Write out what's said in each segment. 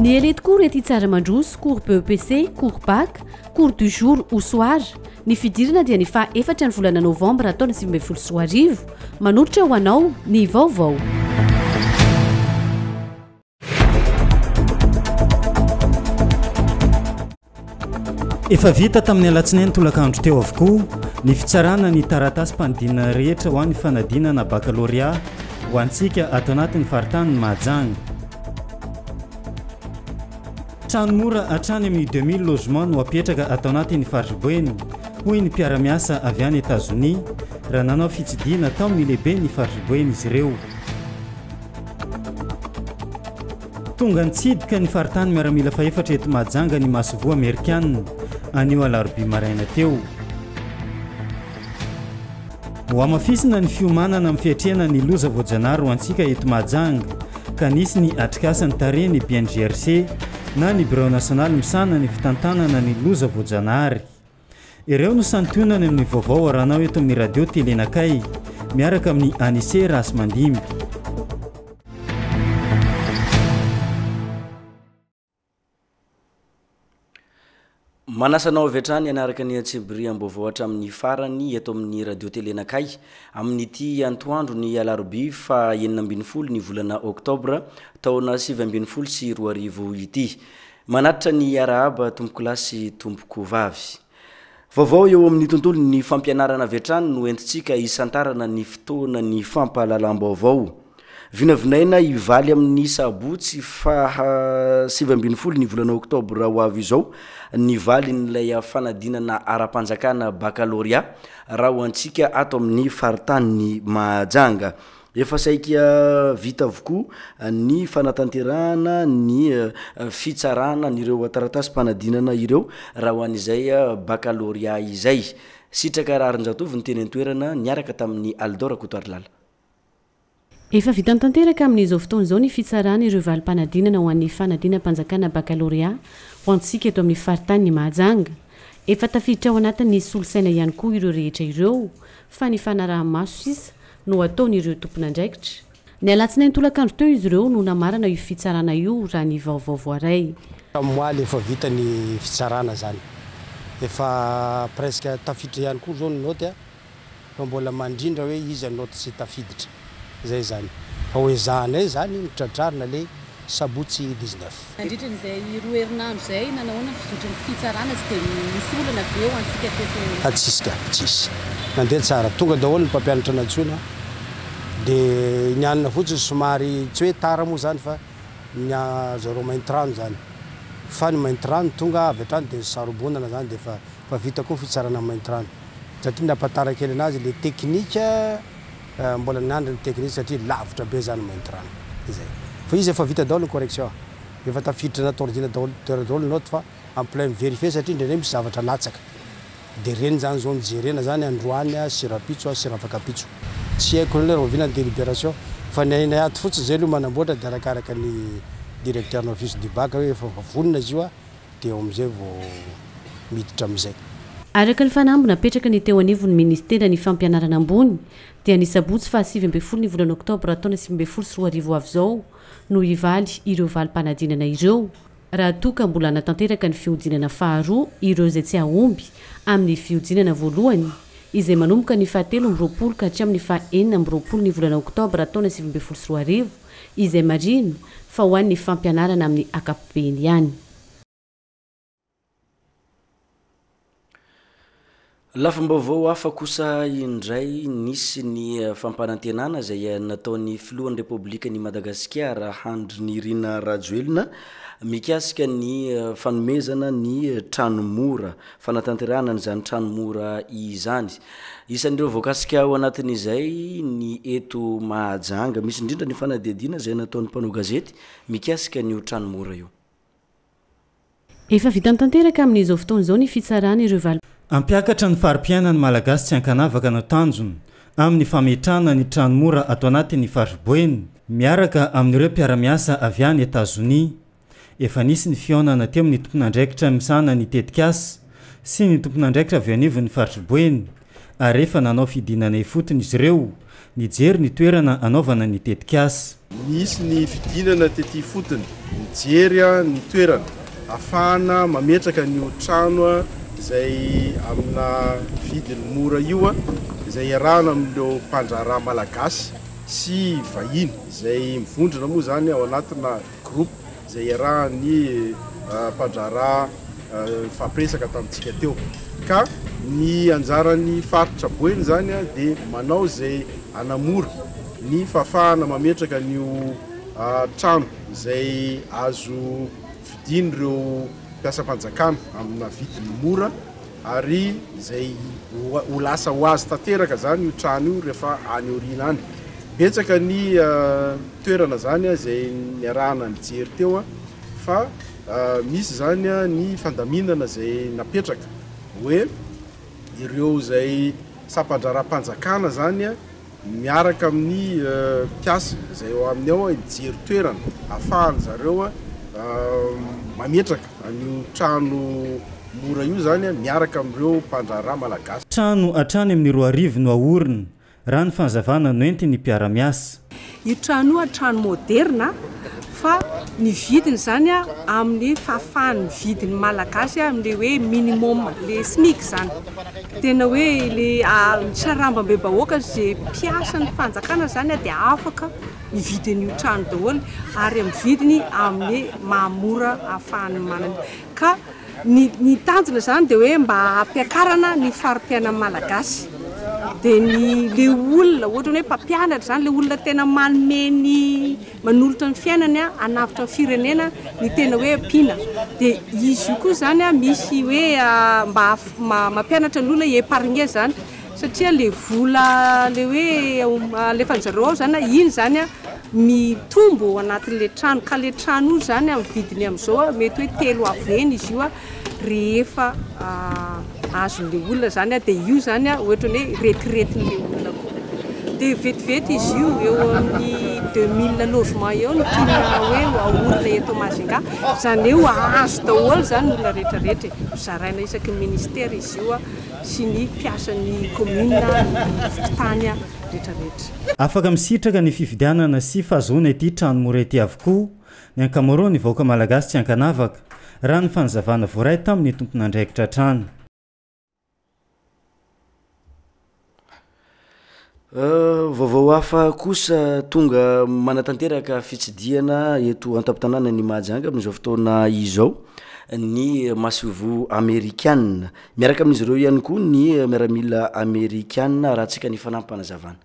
Ny elite koa rety tsara mandroso, cours BEPC, cours bac, cours du jour ou soir. Ny fidirana dia ny faha efatra ny volana novambra taona sivy ambin'ny folo sy roa arivo. Manolotra ho anao ny vaovao. Efa vita tamin'ny alatsinainy tolakandro teo avokoa ny fitsarana ny taratasim-panodinana rehetra ho an'ny fanadinana bakalorea ho antsika ato anatin'ny faritanin'i Mahajanga. Trano mora hatrany amin'ny 2000 logement no hapetraka ato anatin'ny fariboeny, hoy ny mpiara-miasa avy any Etazonia raha nanao fitsidiana tao amin'ny lehiben'ny fariboeny izy ireo. Tonga nitsidika ny faritany miaramila fahefatra eto Mahajanga ny masoivoho amerikana, anio alarobia maraina teo. Hohamafisina ny fiomanana amin'ny fiatrehana ny loza voajanahary ho antsika eto Mahajanga, ka nisy ny atrikasany tarehy ny BNGRC na ny Birao Nasionaly misahana ny fitantanana ny loza voajanahary. Ireo no santionany amin'ny vaovao aranao eto amin'ny radio tele nakay miaraka amin'ny Anise Rasimandimby. Manasa anao avy hatrany hanaraka ny antsebiriam-baovao hatramin'ny farany eto amin'ny radio tele nakay amin'ity antoandro ny alarobia fa enina ambin'ny folo ny volana oktobra taona sivy ambin'ny folo sy roa arivo ity. Manatitra ny arahaba tompokolahy sy tompoko vavy. Vaovao eo amin'ny tontolon'ny fampianarana avy hatrany no entintsika hisantarana ny fotoanan'ny fampahalalam-baovao. Vinavinaina hivaly amin'ny sabotsy faha sivy ambin'ny folo ny volana oktobra ho avy izao ny valin'ilay fanadinana ara-panjakana bakalorea raha ho antsika ato amin'ny faritanin'i Mahajanga. Efa saika vita avokoa ny fanatanterahana ny fitsarana an'ireo taratasim-panadinana ireo raha ho an'izay bakalorea izay. Sitraka Raharinjatovo ny teny an-toerana niaraka tamin'i Aldo Rakotoarilala. Efa vita tanteraka amin'izao fotoana izao ny fitsarana ireo valim-panadinana ho an'ny fanadinam-panjakana bakalorea ho antsika eto amin'ny faritanin'i Mahajanga. Efa tafiditra ao anatin'ny solosaina ihany koa ireo rehetra ireo fa ny fanaraha-maso sisa no ataon'ireo tompon'andraikitra. Ny alatsinainy tolakandro teo izy ireo no namarana io fitsarana io, raha ny vaovao voaray. Tamoaly efa vita ny fitsarana izany. Efa presque tafiditra ihany koa izao ny naoty fa mbola mandrindra hoe iza naoty tsy tafiditra. Izay izany. Fa hoezahanay izany ny tratrarina ilay sabotsy dix neuf. Nandritra izay roa herinandro izay, nanahoana ny fizotry ny fitsarana sy dia nisy olana ve ho antsika teto? Francisca, Tsisy. Nandeha tsara. Tonga daholo ny mpampianatra nantsoina dia nianina fotsiny somary, tsy hoe tara moa izany fa ny azy zareo maintirano izany. Fa ny maintirano tonga avy hatrany dia sarobonana izany dia efa efa vita koa ny fitsarana ny maintirano. Satria nampatara kely an'azy ilay teknika. Mbola niandry ny technique satria lavitra be za no mainty rano. Izay. Fa izy efa vita daholo ny correction. Efa tafiditra anaty ordina daholo teo daholo ny note fa en plein mi-verifier satria indraindray misy zavatra latsaka. Dia ireny zany zao no jerena zany androany sy rapitso sy rafakapitso. Tsy haiko le rahoviana ny deliberation fa ny hainay ato fotsiny zay aloha manamboatra dia arakaraka ny directeur-ny office du bac hoe efa vonona izy io dia eo amin'izay vao miditra amin'izay. Araka ny fanamby napetraka ny teo anivon'ny Ministeran'ny Fampianarana ambony dia ny sabotsy faha sivy ambin'ny folo ny volana oktobra taona sivy ambin'ny folo sy roa arivo ho avy izao no hivaly ireo valim-panadinana ireo raha toa ka mbola hanatanteraka ny fihodinana faharoa ireo izay tsy hahomby amin'ny fihodinana voalohany izay manomboka ny faha telo amby roapolo ka hatramin'ny faha enina amby roapolo ny volana oktobra taona sivy ambin'ny folo sy roa arivo. izay marihina fa ho an'ny fampianarana amin'ny ankapobeny ihany. Lafim-baovao hafa kosa indray, nisy ny fampanantenana izay nataon'ny filohan'ny Repoblikan'i Madagasikara, Andry Nirina Rajoelina, mikasika ny fanomezana ny trano mora fanatanterahana an'izany trano mora izany. Isan'ireo voakasika ao anatin'izay ny eto Mahajanga. Misy indrindra ny fanadihadiana izay nataon'ny mpanao gazety mikasika an'io trano mora io. Efa vitany tanteraka amin'izao fotoana izao ny fitsarana ireo valo. Hampiakatra ny fari-piainan'ny Malagasy tsy ankanavaka no tanjona amin'ny fametrahana ny trano mora ato anatin'ny fariboeny, miaraka amin'ireo mpiara-miasa avy any Etazonia, Efa nisy ny fihaonana teo amin'ny tompon'andraikitra misahana ny tetikasa sy ny tompon'andraikitra avy eo anivon'ny faritry Boeny ary efa nanao fidinana ifotony izy ireo nijery ny toerana hanaovana ny tetikasa. Nisy ny fidinana tety ifotony nijery ny toerana hafahana mametraka an'io trano izay amina vidiny mora io izay iarahana amin'ireo mpandraharaha malagasy sy vahiny izay mivondrona moa izany ao anatina Groupe izay iarahan'ny mpandraharaha nifampiresaka tamintsika teo. Ka ny anjaran'ny faritra Boeny izany dia manao izay hanamora ny fahafahana mametraka an'io trano izay azo vidian'ireo mpiasam-panjakana amina vidiny mora, Ary izay ho lasa ho azy tanteraka izany io trano io rehefa any aoriana any. Betsaka ny toerana izany izay niarahana nijery teo fa misy izany ny fandaminana izay napetraka hoe ireo izay sampan-draharaham-panjakana izany Miaraka amin'ny mpiasa izay ao aminy ao mijery toerana afahan zareo mametraka an'io trano mora io izany miaraka amin'ireo mpandraharaha malagasy. Trano hatrany amin'ny roa arivo no haorina, raha ny fanazavana noentin'ny mpiara-miasa. Io trano io trano moderina. fa ny vidiny izany amin'ny fahafahany mividy ny malagasy amin'ilay hoe minimum, ilay smic izany. Tena hoe ilay amin'ny sarambam-bebahoaka izay mpiasan'ny fanjakana izany dia afaka mividy an'io trano daholo ary amin'ny vidiny amin'ny maha mora ahafahany manana. Ka ny ny tanjona izany dia hoe mba hampiakarana ny fari-piainan'ny malagasy. Dia ny ilay olona ohatrany hoe mpampianatra izany, ilay olona tena manome ny manolotra ny fiainany hanavotra ny firenena ny tena hoe mpiana dia izy io koa zany misy hoe mba mampianatra ny olona épargner zany satria le vola le hoe alefany zareo ao zany iny zany a mitombo ao anatin'le trano ka le trano io zany amin'ny vidiny amin'izao mety hoe telo avo eny izy io a rehefa azon'ilay olona izany dia io izany ohatran'ny hoe retiretin'ilay olona koa dia vetivety izy io eo amin'ny deux mille logement eo ny tiana hoe haorina eto Majunga izany hoe hahazo daholo izany ny olona rehetra rehetra e, hozaraina isaky ny ministera izy io sy ny mpiasan'ny commune ny fokontany rehetra rehetra. Afaka misitraka ny fifidianana sy fahazoana ity trano mora ity avokoa Ny ankamaroan' ny vahoaka malagasy tsy ankanavaka, raha ny fanazavana voaray tamin' ny tomponandraikitra hatrany. Vaovao hafa kosa tonga manatanteraka fitsidihana eto an-tampon-tanànan' i Mahajanga amin' izao fotoana izao ny masoivoho amerikana. Miaraka amin' izy ireo ihany koa ny miaramila amerikana, arahantsika ny fanampim-panazavana.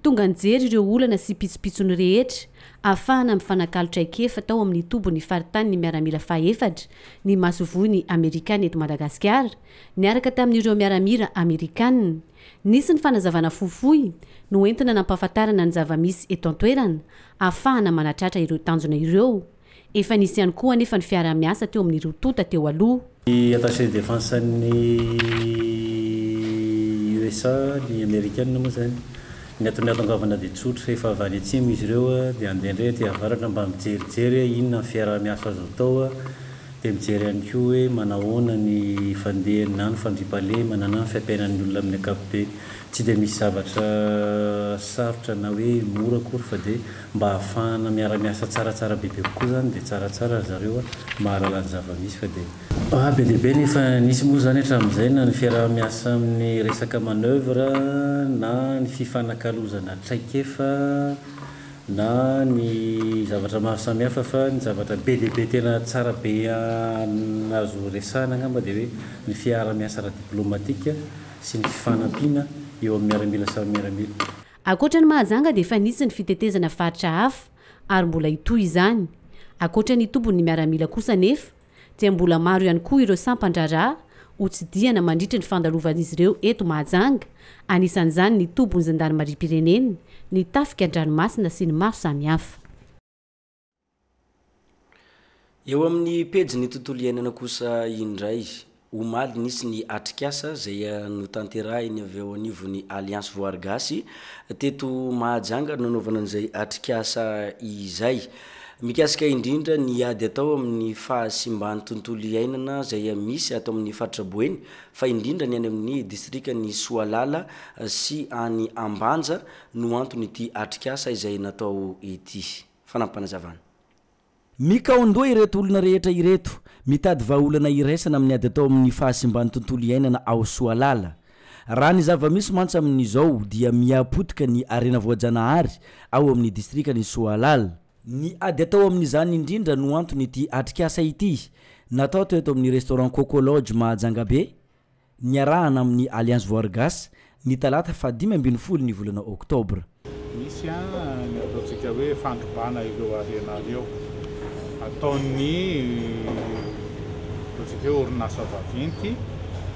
Tonga nijery ireo olana sy pitsopitsony rehetra afahana mifanakalo traikefa tao amin'ny tobon'ny faritanin'ny miaramila fahefatra ny masoivoho ny Amerikana eto Madagasikara, niaraka tamin'ireo miaramila Amerikana. Nisy ny fanazavana fohifohy noentina nampahafantarana ny zava-misy eto an-toerana ahafahana manatratra ireo tanjona ireo. Efa nisy ihany koa anefa ny fiaraha-miasa teo amin'ny roa tonta teo aloha. Ny attaché défense-n'ny USA, ny Amerikanina moa izany, ny antony nahatongavana dia tsotra, efa avy any atsimo izy ireo dia handeha indray aty avaratra mba mijerijery hoe inona ny fiaraha-miasa azo atao. Dia mijery ihany koa hoe manahoana ny fandehany na ny fandriampahalemana na ny fiainan'ny olona amin'ny ankapobeny. Tsy dia misy zavatra sarotra na hoe mora akory fa dia mba ahafahana miara-miasa tsaratsara bebe kokoa izany dia tsaratsara ry zareo a! mahalala ny zava-misy fa dia. Ba be dia be ny efa nisy moa izany hatramin'izay na ny fiaraha-miasa amin'ny resaka manoeuvre na ny fifanakalozana traikefa, na ny zavatra maro samihafa fa ny zavatra be dia be tena tsara be azo resahina angamba dia hoe ny fiarahamiasa ara-diplomatika sy ny fifanampiana eo amin'ny miaramila samy miaramila. Ankoatra ny Mahajanga dia efa nisy ny fitetezana faritra hafa ary mbola hitohy izany. Ankoatra ny tombony ny miaramila kosa anefa dia mbola maro ihany koa ireo sampan-draharaha hotsidihana mandritra ny fandalovan'izy ireo eto Mahajanga, anisan'izany ny tobin'ny zandarimariam-pirenena, ny tafika an-dranomasina sy ny maro samihafa. Eo amin'ny pejin'ny tontolo iainana kosa indray. Omaly nisy ny atrikasa izay notanterahiny avy ao anivon'ny Alliance Voary Gasy teto Mahajanga nanaovana an'izay atrikasa izay. Mikasika indrindra ny ady atao amin'ny fahasimban'ny tontolo iainana izay misy ato amin'ny faritra Boeny fa indrindra ny any amin'ny distrikan'i Soalala sy any Ambanja no anton'ity atrikasa izay natao ity. Fanampim-panazavana. Mikaon-doha ireto olona rehetra ireto, mitady vahaolana iraisana amin'ny ady atao amin'ny fahasimban'ny tontolo iainana ao Soalala. Raha ny zava-misy mantsy amin'izao dia miha potika ny harena voajanahary ao amin'ny distrikan'i Soalala. Ny ady atao amin'izany indrindra no anton'ity atrikasa ity, natao teto amin'ny restaurant Coco Lodge Mahajangabe, niarahana amin'ny Alliance Voargas, ny talata fahadimy ambin'ny folo ny volana oktobra. Misy ny ataontsika hoe fandrobana ireo harena ireo ataon'ny ataontsika hoe orinasa vaventy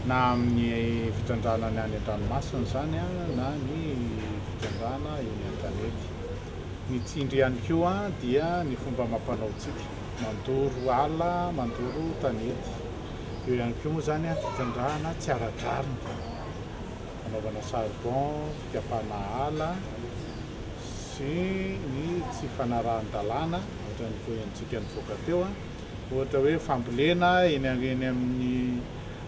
na amin'ny fitrandrahana ny any an-dranomasina izany na ny fitrandrahana eny an-tanety. Ny tsindry ihany koa dia ny fomba amam-panaontsika, mandoro ala, mandoro tanety. Eo ihany koa moa izany ny fitrandrahana tsy ara-drariny, fanaovana charbon, fikapana ala sy ny tsy fanarahan-dalàna ohatran'ny toy antsika nivoaka teo, ohatra hoe fambolena eny amin'ny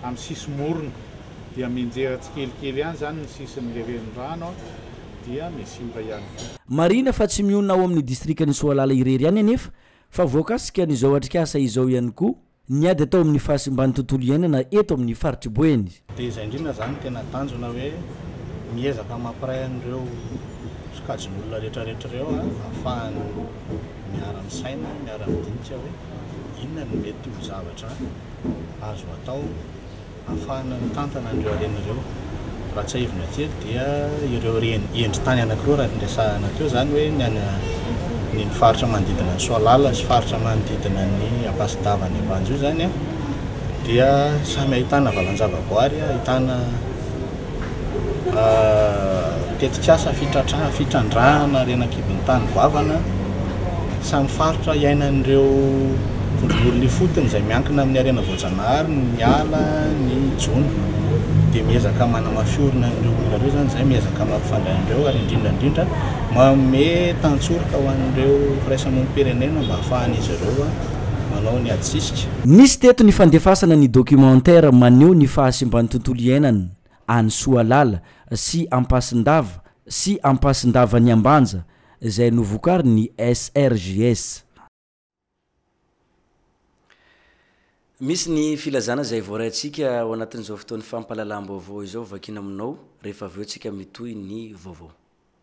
amin'ny sisimorona dia mianjera tsikelikely ihany izany ny sisin'ilay renirano dia misimba ihany koa. Marihina fa tsy mionona ao amin'ny distrikan'i Soalala irery ihany anefa fa voakasikan'izao atrikasa izao ihany koa ny ady atao amin'ny fahasimban'ny tontolo iainana eto amin'ny faritr'i Boeny. Dia izay indrindra izany no tena tanjona hoe miezaka mampiray an'ireo sokajin'olona rehetrarehetra ireo ahafahany miara-misaina, miara-midinika hoe inona no mety ho zavatra azo atao. Ahafahana mitantana an'ireo harena ireo. Raha tsiahivina kely dia ireo endri-tany anankiroa raha ny resahana teo izany hoe ny any ny faritra manodidina an'i Soalala sy faritra manodidina an'i Ampasidava any Ambanja io izany dia samy ahitana valan-javaboary, ahitana tetikasa fitrandrahana harena an-kibon'ny tany goavana samy faritra iainan'ireo vondron'olona ifotony izay miankina amin'ny harena voajanahary ny ala, ny jono. Dia miezaka manamafy orina an'ireo olona ireo izany izay, miezaka mampifandray an'ireo ary indrindra indrindra manome tantsoroka ho an'ireo firaisamonim-pirenena mba hahafahan'izy ireo manao ny adisika. Nisy teto ny fandefasana ny documentaire maneho ny fahasimban'ny tontolo iainana any Soalala sy Ampasindava sy Ampasindava ny Ambanja izay novokarin'ny SRJS. Misy ny filazana izay voaraintsika ao anatin'izao fotoan'ny fampahalalam-baovao izao vakiana aminao rehefa avy eo tsika mitohy ny vaovao.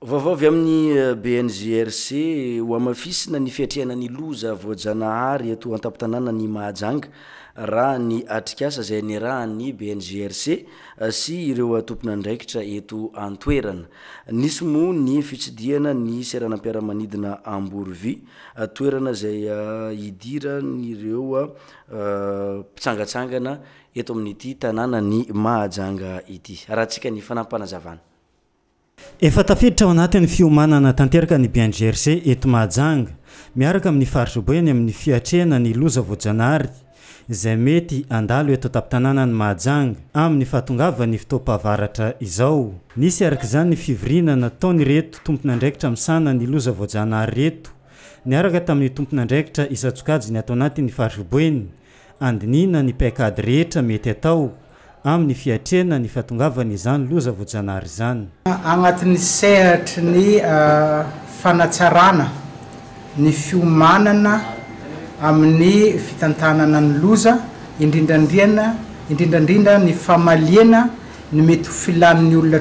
Vaovao avy amin'ny BNGRC, Hohamafisina ny fiatrehana ny loza voajanahary eto an-tampon-tanàna ny Mahajanga, raha ny atrikasa izay niarahan'ny BNGRC sy ireo tomponandraikitra eto an-toerana. Nisy moa ny fitsidihana ny seranam-piaramanidina Amborovy, toerana izay idiran'ireo mpitsangantsangana eto amin'ity tanànan'i Mahajanga ity. Arahantsika ny fanampim-panazavana. Efa tafiditra ao anatin'ny fiomanana tanteraka ny BNGRC eto Mahajanga, miaraka amin'ny faritra Boeny amin'ny fiatrehana ny loza voajanahary izay mety handalo eto an-tampon-tanànan'i Mahajanga amin'ny fahatongavan'ny fotoam-pahavaratra izao. Nisy araka izany ny fivoriana nataon'ireto tompon'andraikitra misahana ny loza voajanahary ireto, niaraka tamin'ny tompon'andraikitra isan-tsokajiny ato anatin'ny faritra Boeny, andinihina ny paikady rehetra mety atao amin'ny fiatrehana ny fahatongavan'izany loza voajanahary izany. Agnatin'ny sehatry ny fanatsarana ny fiomanana amin'ny fitantanana ny loza, indrindrandriana indrindrandrindra ny famaliana ny mety ho filan'ny olona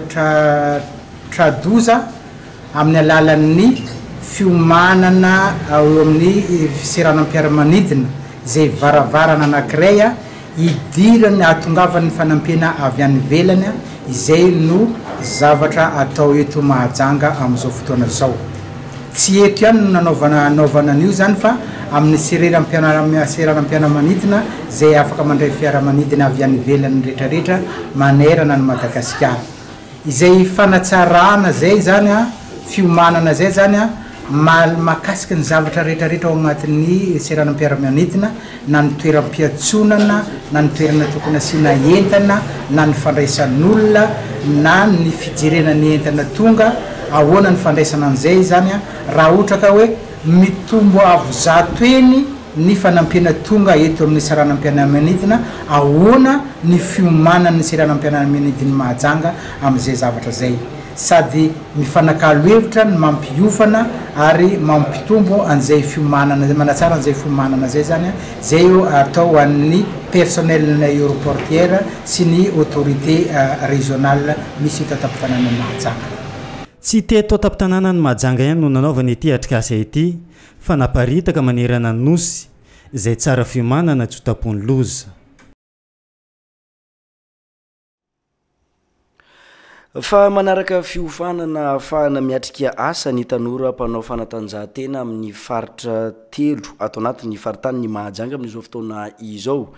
tra-doza amin'ny alalan'ny fiomanana eo amin'ny seranam-piaramanidina, izay varavarana anankiray idiran'ny hahatongavan'ny fanampiana avy any ivelany, izay no zavatra atao eto Mahajanga amin'izao fotoana izao. Tsy eto ihany no nanaovana anaovana an'io izany fa amin'ny sereram-pianara seranam-piaramanidina izay afaka mandray fiaramanidina avy any ivelany retraretra manerana an'i Madagasikara. Izay fanatsarana izay izany an, fiomanana izay izany an, mahakasika ny zavatra retraretra ao anatin'ny seranam-piaramanidina na ny toeram-piantsonana, na ny toerana tokony asiana entana, na ny fandraisan'olona, na ny fijerena ny entana tonga, ahoana ny fandraisana an'izay izany raha ohatra ka hoe mitombo avo zato eny ny fanampiana tonga eto amin'ny seranam-pianamianidina, ahoana ny fiomanan'ny seranam-pianamianidin'i Mahajanga amin'izay zavatra izay. sady mifanakalo hevitra ny mampiofana ary mampitombo an'izay fiomanana, manatsara an'izay fiomanana izay izany, izay atao ho an'ny personnel-n'ny aeroportuaire sy ny autorité régionale misy eto an-tampon-tanànan'i Mahajanga. Tsy teto an-tampon-tanànan'i Mahajanga ihany no nanaovana ity atrikasa ity fa naparitaka manerana ny Nosy, izay tsara fiomanana tsy ho tampohin'ny loza. Fa manaraka fiofanana ahafahana miatrika asa ny tanora mpanao fanatanjahantena amin'ny faritra telo ato anatin'ny faritanin'i Mahajanga amin'izao fotoana izao.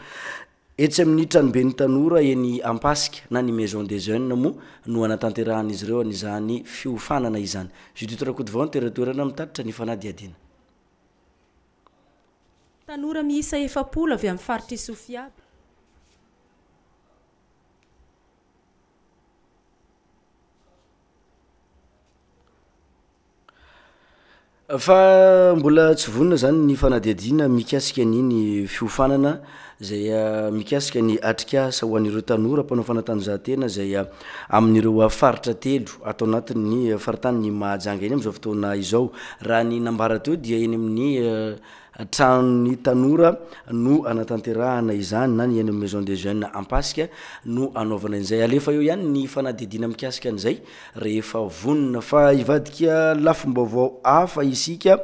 Etsy amin'ny tranoben'ny tanora eny Ampasika na ny Maison des Jeunes moa no hanatanterahan'izy ireo an'izany fiofanana izany. Judith Rakotovao no tera-toerana mitatitra ny fanadihadiana. Tanora miisa efapolo avy amin'ny faritr'i Sofia, Fa mbola tsy vonona izany ny fanadihadiana mikasika an'iny fiofanana izay mikasika ny atrikasa ho an'ireo tanora mpanao fanatanjahantena izay amin'ireo faritra telo ato anatin'ny faritanin'i Mahajanga eny amin'izao fotoana izao. Raha ny nambara teo dia eny amin'ny tranon'ny tanora no anatanterahana izany na ny eny amin'ny Maison des Jeunes Ampasika no anaovana izay. Alefa eo ihany ny fanadihadiana mikasika an'izay rehefa vonona fa hivadika lafim-baovao hafa isika.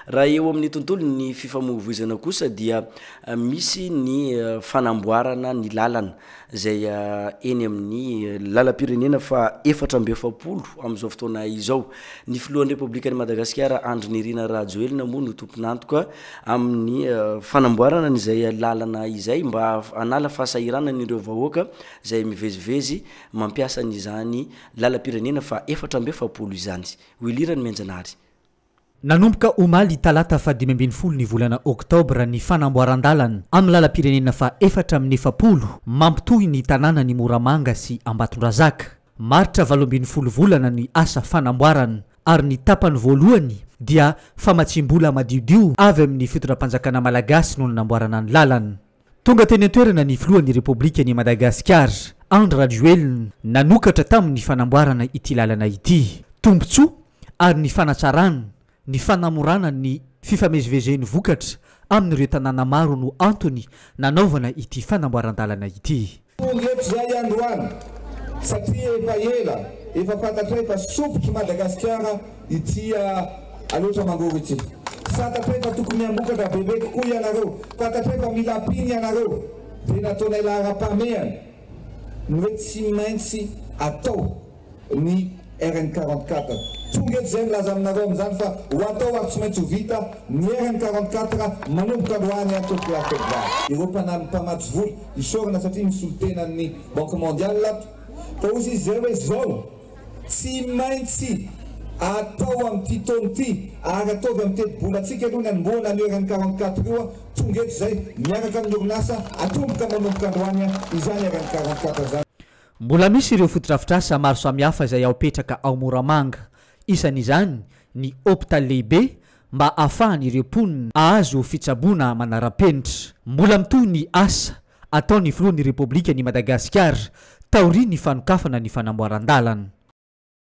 Raha eo amin'ny tontolon'ny fifamoivoizana kosa dia misy ny fanamboarana ny lalana izay eny amin'ny lalam-pirenena fahaefatra amby efapolo amin'izao fotoana izao. Ny filohan'ny Repoblikan'i Madagasikara Andry Nirina Rajoelina moa no tompon'antoka amin'ny fanamboarana an'izay lalana izay mba hanala fahasahiranana ireo vahoaka izay mivezivezy Mampiasa an' izany lalam-pirenena faha efatra amby efapolo izany Wilira ny Mianjanahary. Nanomboka omaly talata faha dimy ambin'ny folo ny volana oktobra ny fanamboaran-dalana amin'ny lalam-pirenena faha efatra amin'ny efapolo mampitohy ny tanànan'i Moramanga sy Ambatondrazaka. Maritra valo ambin'ny folo volana ny asa fanamboarana ary ny tapany voalohany dia famatsiam-bola madiodio avy amin'ny fitondram-panjakana malagasy no nanamboarana ny lalana. Tonga teny an-toerana ny filohan'ny Repoblikan'i Madagasikara, Andry Rajoelina, nanokatra tamin'ny fanamboarana ity lalana ity. Tombontsoa ary ny fanatsarana, ny fanamorana ny fifamezivezen'ny vokatra amin'ireo tanàna maro no antony nanaovana ity fanamboaran-dalana ity. Tonga eto izay androany satria efa ela efa fantatray fa sompitry Madagasikara ity Aloatra Mangoro ity. Fantatray fa tokony hamokatra bebe kokoa ianareo, fantatray fa mila mpino ianareo dia nataonay laharam-pahamehana ny hoe tsy maintsy atao. ny RN quarante quatre. Tonga eto izay milaza aminareo amin'izany fa ho atao ary tsy maintsy ho vita ny RN quarante quatre manomboka androany ary tolokolahy febroary. Ireo mpanampy mpamatsy vola isaorana satria nisolo tena amin'ny Banque Mondiale ato ka hozy izy izay hoe izao, Tsy maintsy atao amin'ity taona ity ary ataovy amin'ny teti-bolantsika aloha ny anombohana an'io RN quarante quatre io. Tonga eto izay miaraka amin'ny orinasa atomboka manomboka androany izany RN quarante quatre izany. Mbola misy ireo fotodrafitrasa maro samihafa izay ao petraka ao Moramanga, isan'izany ny hopitaly lehibe mba ahafahan' ireo mponina ahazo fitsaboana manara-penitra. Mbola mitohy ny asa ataon'ny filohan'ny Repoblikan' i Madagasikara taorian'ny fanokafana ny fanamboaran-dalana.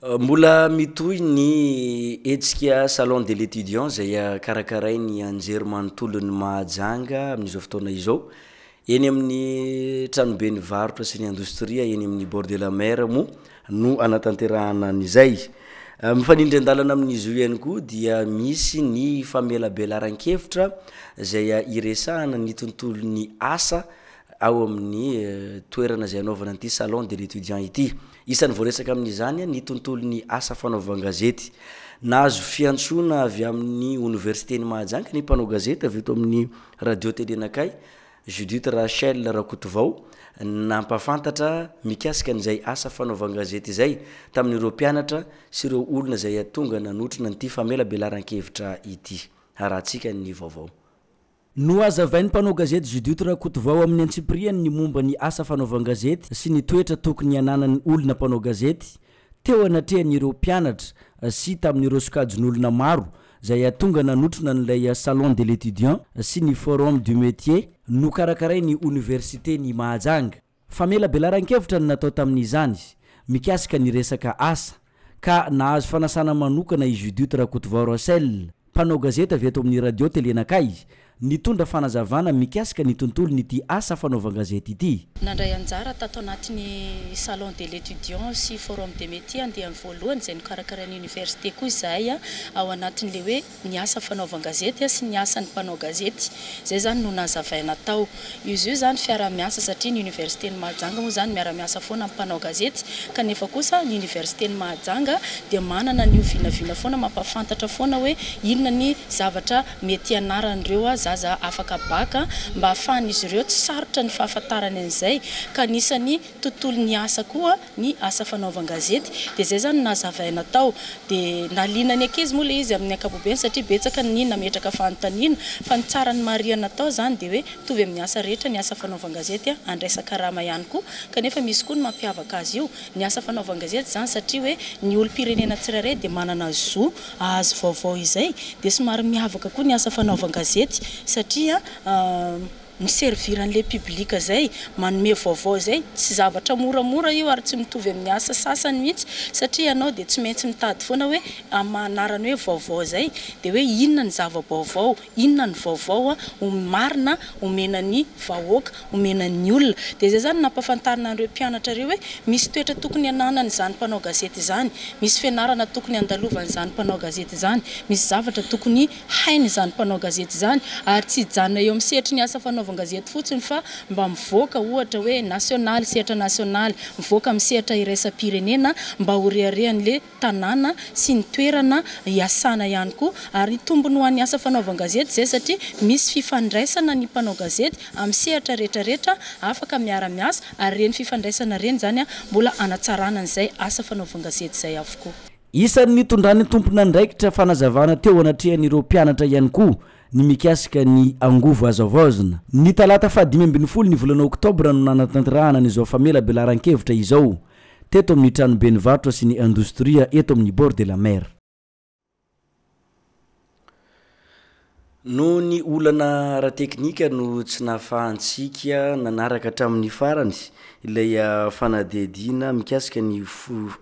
Mbola mitohy ny hetsika Salon de l'Etudiant izay karakarain'ny Anjerimanontolon'i Mahajanga amin'izao fotoana izao. Eny amin'ny tranoben'ny varotra sy ny indostria eny amin'ny bord de la mer moa no anatanterahana an'izay. Mifanindry an-dalana amin'izy io ihany koa dia misy ny famelabelaran-kevitra izay iresahana ny tontolon'ny asa ao amin'ny toerana izay hanaovana an'ity Salon de l'Etudiant ity. Isan'ny voaresaka amin'izany ny tontolon'ny asa fanaovan-gazety. Nahazo fiantsoana avy amin'ny Oniversiten'i Mahajanga ny mpanao gazety avy eto amin'ny Radio Télé Nakay, Judith Rachel Rakotovao, nampahafantatra mikasika an'izay asa fanaovan-gazety izay tamin'ireo mpianatra sy ireo olona izay tonga nanotrona an'ity famelabelaran-kevitra ity. Harahantsika ny vaovao. Nohazavain'ny mpanao gazety Judith Rakotovao amin'ny antsipiriany ny momba ny asa fanaovan-gazety sy ny toetra tokony hananan'ny olona mpanao gazety, teo anatrehan'ireo mpianatra sy tamin'ireo sokajin'olona maro izay hatonga nanotrona an'ilay Salon de l'Etudiant sy ny Forum du Métier nokarakarain'ny Oniversiten'i Mahajanga. Famelabelaran-kevitra no natao tamin'izany mikasika ny resaka asa ka nahazo fanasana manokana i Judith Rakotovao Russell, mpanao gazety avy eto amin'ny Radio Tele Nakay, nitondra fanazavana mikasika ny tontolon'ity asa fanaovan-gazety ity. Nandray anjara tato anatin'ny Salon de l'Etudiant sy Forum des Metiers andiany voalohany izay nokarakarain'ny Oniversite koa izahay ao anatin'ilay hoe ny asa fanaovan-gazety sy ny asan'ny mpanao gazety. Izay izany no nazavaina tao. Izy io izany fiaraha-miasa satria ny Oniversiten'i Mahajanga moa izany miara-miasa foana amin'ny mpanao gazety kanefa kosa ny Oniversiten'i Mahajanga dia manana an'io vinavina foana mampahafantatra foana hoe inona ny zavatra mety hianaran'ireo zaza afaka bac mba hahafahan'izy ireo tsy sarotra ny fahafantarany an'izay ka anisan'ny tontolon'ny asa koa ny asa fanaovan-gazety dia izay izany no nazavaina tao dia nahaliana ny ankizy moa ilay izy amin'ny ankapobeny satria betsaka ny nametraka fanontaniana fa ny tsara nomarihana tao izany dia hoe mitovy amin'ny asa rehetra ny asa fanaovan-gazety andraisan-karama ihany koa kanefa misy koa ny mampiavaka azy io ny asa fanaovan-gazety izany satria hoe ny olom-pirenena tsirairay dia manana zo ahazo vaovao izay dia somary miavaka koa ny asa fanaovan-gazety satria mi-servir an'ilay public izay, manome vaovao izay, tsy zavatra moramora io ary tsy mitovy amin'ny asa sasany mihitsy satria ianao dia tsy maintsy mitady foana hoe amin'ny maha anarany hoe vaovao izay dia hoe inona ny zava-baovao, inona ny vaovao marina omena ny vahoaka, omena ny olona. Dia izay izany no nampahafantarina an'ireo mpianatra ireo hoe misy toetra tokony hananany izany mpanao gazety izany, misy fianarana tokony handalovany izany mpanao gazety izany, misy zavatra tokony. Hainy izany mpanao gazety izany ary tsy hijanona eo amin'ny sehatry ny asa fanaovan-gazety fotsiny fa mba mivoaka ohatra hoe nasionaly, sehatra nasionaly, mivoaka amin'ny sehatra iraisam-pirenena mba ho reharehan'ilay tanàna sy ny toerana iasana ihany koa ary tombony ho an'ny asa fanaovan-gazety izay satria misy fifandraisana ny mpanao gazety amin'ny sehatra rehetrarehetra afaka miara-miasa ary ireny fifandraisana ireny izany mbola hanatsarana an'izay asa fanaovan-gazety izay avokoa. Isan'ny nitondran'ny tompon'andraikitra fanazavana teo anatrehan'ireo mpianatra ihany koa ny mikasika ny angovo azo havaozina. Ny talata fahadimy ambin'ny folo ny volana oktobra no nanatanterahana an'izao famelabelaran-kevitra izao, teto amin'ny tranoben'ny varotra sy ny indostria eto amin'ny Bord de la Mer. Noho ny olana ara-teknika no tsy nahafahantsika nanaraka hatramin'ny farany ilay fanadihadiana mikasika ny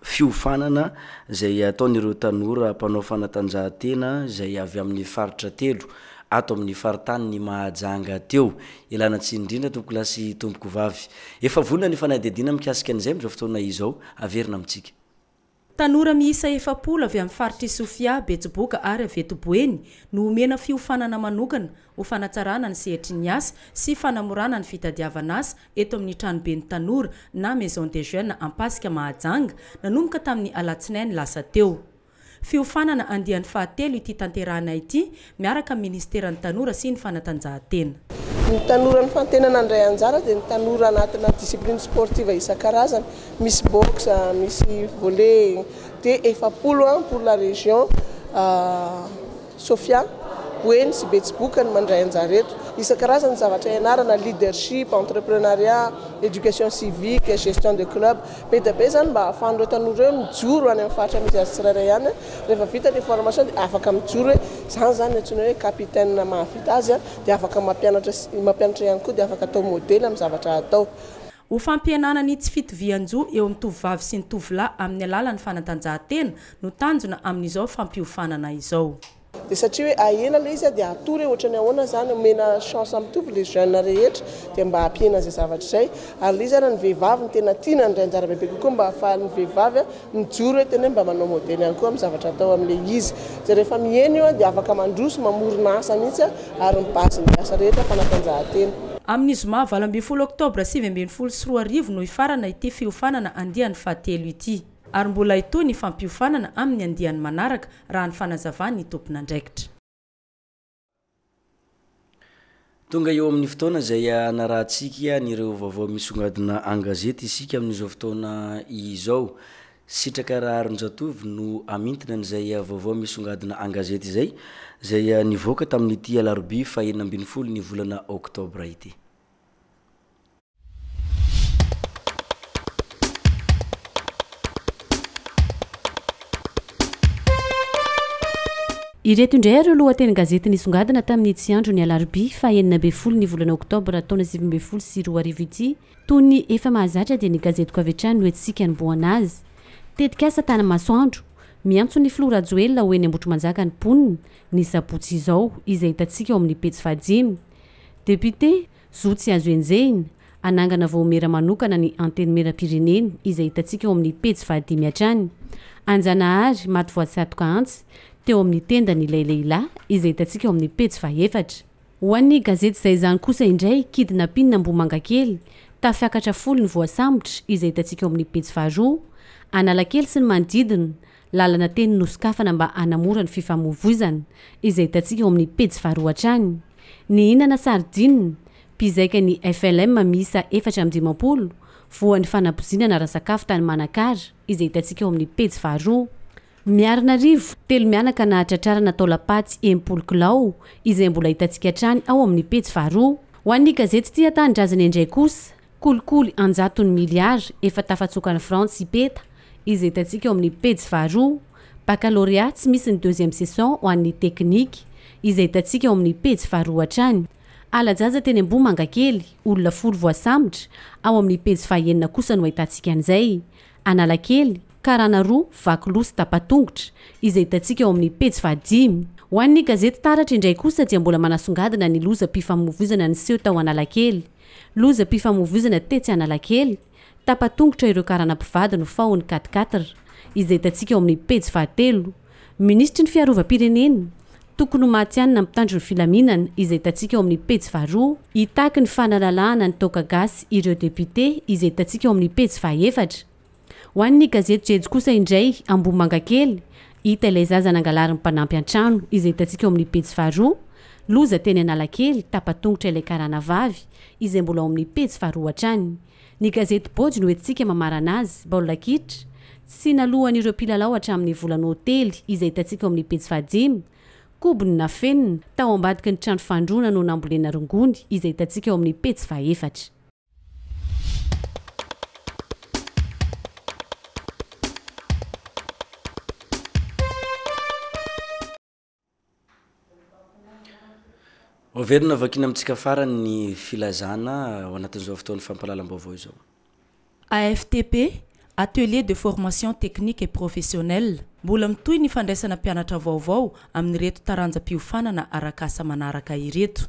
fiofanana izay ataon'ireo tanora mpanao fanatanjahantena izay avy amin'ny faritra telo ato amin'ny faritanin'i Mahajanga teo. Ialana tsiny indrindra tompokolahy sy tompokovavy. Efa vonona ny fanadihadiana mikasika an'izay amin'izao fotoana izao. Averina amintsika. Tanora miisa efapolo avy amin'ny faritr'i Sofia, Betsiboka ary avy eto Boeny no omena fiofanana manokana ho fanatsarana ny sehatry ny asa sy fanamorana ny fitadiavan'asa eto amin'ny Tranoben'ny Tanora na Maison des Jeunes Ampasika Mahajanga nanomboka tamin'ny alatsinainy lasa teo. Fiofanana andiany fahatelo ity tanterahina ity miaraka amin'ny Ministeran'ny Tanora sy ny Fanatanjahantena. Ny tanora nifantenana handray anjara dia ny tanora anatina discipline sportive isan-karazany, misy boxe, misy volley, dia efapolo ans pour la région Sofia, Boeny sy Betsiboka no mandray anjara eto. Isan-karazany ny zavatra ianarana, leadership, entreprenariat, éducation civique, gestion de club. Be dia be izany mba ahafahan'ireo tanora ireo mijoro any amin'ny faritra misy azy tsirairay any. Rehefa vita ny formation dia afaka mijoro hoe izany izany no antsoina hoe capitaine mahavita azy dia afaka mampianatra sy mampianatra ihany koa dia afaka atao modely amin'ny zavatra hatao. Ho fampihenana ny tsy fitovian-jo eo amin'ny tovovavy sy ny tovolahy amin'ny alalan'ny fanatanjahantena no tanjona amin'izao fampiofanana izao. Dia satria hoe ahena ilay izy dia atory hoe ohatrany ahoana izany, omena chance mitovy ilay jeune rehetra dia mba hampihena izay zavatra izay, ary ilay izy ary ny vehivavy no tena tiana handray anjara bebe kokoa mba hahafahan'ny vehivavy mijoro hoe tena hoe mba manao modely ihany koa amin'ny zavatra atao amin'ilay izy, dia rehefa mihena io dia afaka mandroso, mamorona asa mihitsy ary ny base-n'ny asa rehetra fanatanjahantena. Amin'ny zoma valo ambin'ny folo oktobra sivy ambin'ny folo sy roa arivo no hifarana ity fiofanana andiany fahatelo ity. ary mbola hitohy ny fampiofanana amin'ny andiany manaraka, raha ny fanazavan'ny tompon'andraikitra. Tonga eo amin'ny fotoana izay hanarahantsika an'ireo vaovao misongadina an-gazety isika amin'izao fotoana izao. Sitraka Raharinjatovo no hamintina an'izay vaovao misongadina an-gazety izay, izay nivoaka tamin'ity alarobia fahenina ambin'ny folo ny volana oktobra ity. Ireto indray ary ireo lohatenin-gazety nisongadina tamin'ny itsy andro ny alarobia faha enina ambin'ny folo ny volana oktobra taona sivy ambin'ny folo sy roa arivo ity. Toy ny efa mahazatra dia ny gazetiko avy hatrany no entintsika hanombohana azy. Tetikasa Tanamasoandro, Miantso ny filoha Rajoelina ho eny Ambohitrimanjaka ny mponina, ny sabotsy izao, izay hitantsika ao amin'ny pejy fahadimy. Député, Zo tsy azo enjehina, Hanangana vaomiera manokana ny Antenimierampirenena izay hitantsika ao amin'ny pejy fahadimy hatrany. An-Janahary, maty voatsatoka antsy teo amin'ny tendany ilay lehilahy izay hitantsika ao amin'ny pejy fahefatra. Ho an'ny gazety Izay Izany kosa indray, kidnapping Ambohimangakely, tafiakatra folo ny voasambotra izay hitantsika ao amin'ny pejy faharoa. Analakely sy ny manodidina, Lalana teny nosokafana mba hanamora ny fifamoivoizana, izay hitantsika ao amin'ny pejy faharoa hatrany. Nihinana sardine, mpizaika ny FLM miisa efatra amby dimampolo, voan'ny fanabozinana ara-sakafo tany Manakara, izay hitantsika ao amin'ny pejy faharoa. Miarinarivo, telo mianaka nahatratrarana taolam-paty enimpolo kilao, izay mbola hitantsika hatrany ao amin'ny pejy faharoa. Ho an'ny gazety Tia Tanindrazana indray kosa, Kolikoly an-jatony miliara efa tafatsokan'i Frantsa i Peta, izay hitantsika eo amin'ny pejy faharoa, Baccalauréat tsy misy ny deuxième session ho an'ny teknika, izay hitantsika eo amin'ny pejy faharoa hatrany, Ala-jaza teny Ambohimangakely, olona folo voasambotra, ao amin'ny pejy fahaenina kosa no ahitantsika an'izay, Analakely, karana roa vaky loha sy tapa-tongotra, izay hitantsika eo amin'ny pejy fahadimy. Ho an'ny gazety Taratra indray kosa dia mbola manasongadina ny lozam-pifamoivoizana niseho tao Analakely, Lozam-pifamoivoizana tetsy Analakely, tapa-tongotra ireo karana mpivady no fahon'ny quatre-quatre, izay hitantsika ao amin'ny pejy fahatelo. Minisitry ny Fiarovam-pirenena, tokony ho matihanina mpitandro ny filaminana, izay hitantsika ao amin'ny pejy faharoa. Hitaky ny fanalalahana ny toaka gasy ireo depiote, izay hitantsika ao amin'ny pejy fahaefatra. Ho an'ny gazety Jejoo kosa indray, Ambohimangakely, hita ilay zaza nangalarin'ny mpanampy an-trano, izay hitantsika eo amin'ny pejy faharoa, Loza teny Analakely, tapa-tongotra ilay karana vavy, izay mbola ao amin'ny pejy faharoa hatrany. Ny gazety Boj no entintsika mamarana azy, baolina kitra, tsy naloan'ireo mpilalao hatramin'ny volana hotely, izay hitantsika eo amin'ny pejy fahadimy, Kobony nafenina, tao ambadiky ny trano fandroana no nambolena rongony, izay hitantsika ao amin'ny pejy fahaefatra. Hoaverina vakiana amintsika farany ny filazana ao anatin'izao fotoan'ny fampahalalam-baovao izao. AFTP, Atelier de formation technique et professionnelle, Mbola mitohy ny fandraisana mpianatra vaovao amin'ireto taranja-piofanana arak'asa manaraka ireto.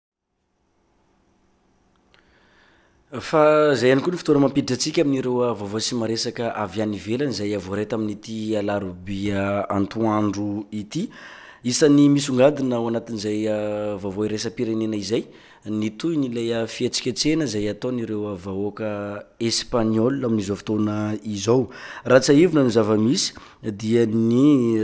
Fa izay ihany koa ny fotoana mampiditra antsika amin'ireo vaovao sy maresaka avy any ivelany izay voaray tamin'ity alarobia antoandro ity. Isan'ny misongadina ao anatin'izay vaovao iraisam-pirenena izay ny tohin'ilay fihetsiketsehana izay ataon'ireo vahoaka espaniola amin'izao fotoana izao. Raha tsiahivina ny zava-misy dia ny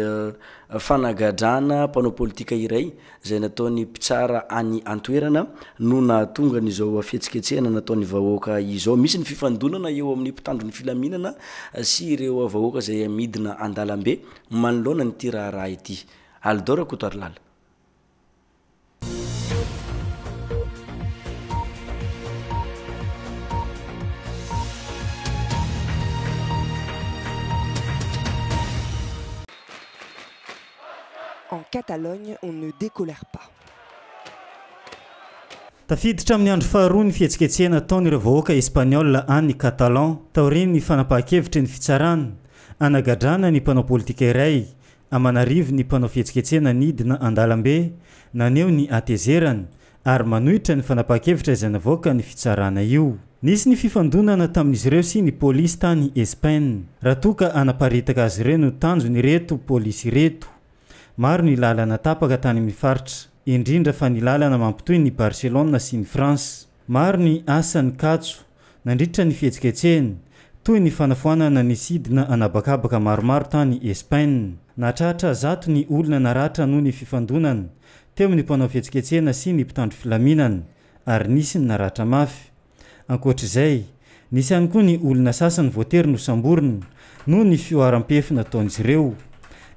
fanagadrana mpanao politika iray izay nataon'ny mpitsara any an-toerana no nahatonga an'izao fihetsiketsehana nataon'ny vahoaka izao. Misy ny fifandonana eo amin'ny mpitandro ny filaminana sy ireo vahoaka izay midina an-dalambe manoloana an'ity raharaha ity. Alidor Rakotoarilala. En Catalogne on ne decolère pas. Tafiditra amin'ny andro faharoa ny fihetsiketsehana ataon'ireo vahoaka Espaniola any Catalan taorian'ny fanapahan-kevitry ny fitsarana hanagadrana ny mpanao politika iray aman'arivony mpanao fihetsiketsehana nidina an-dalambe naneho ny hatezerany ary manohitra ny fanapahan-kevitra izay navoakan'ny fitsarana io. Nisy ny fifandonana tamin'izy ireo sy ny polisy tany Espaina, raha toa ka hanaparitaka azy ireo no tanjon'ireto polisy ireto. Maro ny lalana tapaka tany amin'ny faritra, indrindra fa ny lalana mampitohy ny Barcelona sy ny France. Maro ny asa nikatso. Nandritra ny fihetsiketsehany, toy ny fanafoanana ny sidina an'habakabaka maromaro tany Espaina, nahatratra zato ny olona naratra noho ny fifandonana teo amin'ny mpanao fihetsiketsehana sy ny mpitandro filaminana, ary nisy ny naratra mafy. Ankoatra izay, nisy ihany koa ny olona sasany voatery nosamborina noho ny fihoaram-pefy nataon'izy ireo.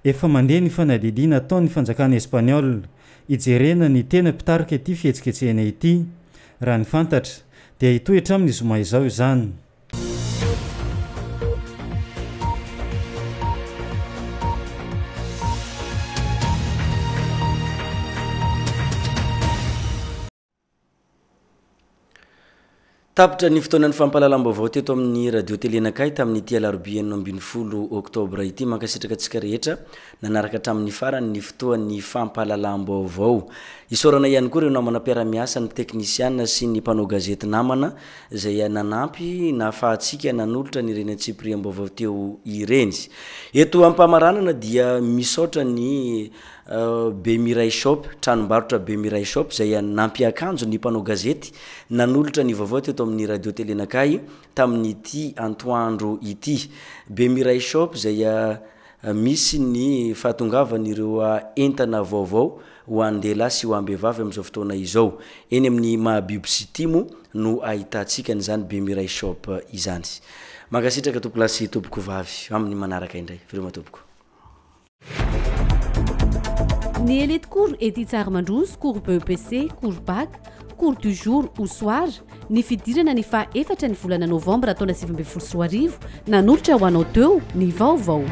Efa mandeha ny fanadihadiana ataon'ny fanjakana espaniola hijerena ny tena mpitarika ity fihetsiketsehana ity, raha ny fantatra. Dia hitohy hatramin'ny zoma izao izany. Tapitra ny fotoanan'ny fampahalalam-baovao teto amin'ny Radio Télé Nakahy tamin'ity alarobia enina ambin'ny folo oktobra ity. Mankasitraka antsika rehetra. Nanaraka hatramin'ny farany ny fotoan'ny fampahalalam-baovao. Isaorana ihany koa ireo namana mpiara-miasa, ny teknisiana sy ny mpanao gazety namana izay nanampy nahafahantsika nanolotra an'ireny antsipiriam-baovao teo ireny. Eto am-pamaranana dia misaotra ny Be Mirai Shop, tranombarotra Be Mirai Shop izay nampiakanjo ny mpanao gazety nanolotra ny vaovao teto amin'ny Radio Télé Nakahy tamin'ity antoandro ity. Be Mirai Shop izay Misy ny fahatongavan'ireo entana vaovao ho an-dehilahy sy ho am-behivavy amin'izao fotoana izao. Eny amin'ny Mahabibo City moa no ahitantsika an'izany Bemiray Shop izany. Mankasitraka tompolahy sy tompokovavy. Amin'ny manaraka indray. Veloma tompoko. Ny Elite Cours Ety Tsarimandroso, Cours BEPC, Cours Bac, Cours du jour ou soir, Ny fidirana ny faha efatra ny volana novambra taona sivy ambin'ny folo sy roa arivo, nanolotra ho anao teo ny vaovao.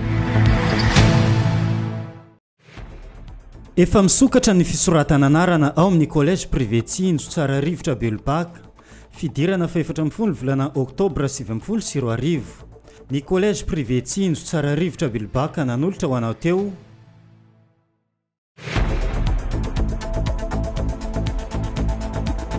Efa misokatra ny fisoratana anarana ao amin'ny Collège Privé Tsinjo Tsara Rivotra Belobaka, fidirana fahefatra amin'ny folo volana Oktobra sivy ambin'ny folo sy roa arivo. Ny Collège Privé Tsinjo Tsara Rivotra Belobaka nanolotra ho anao teo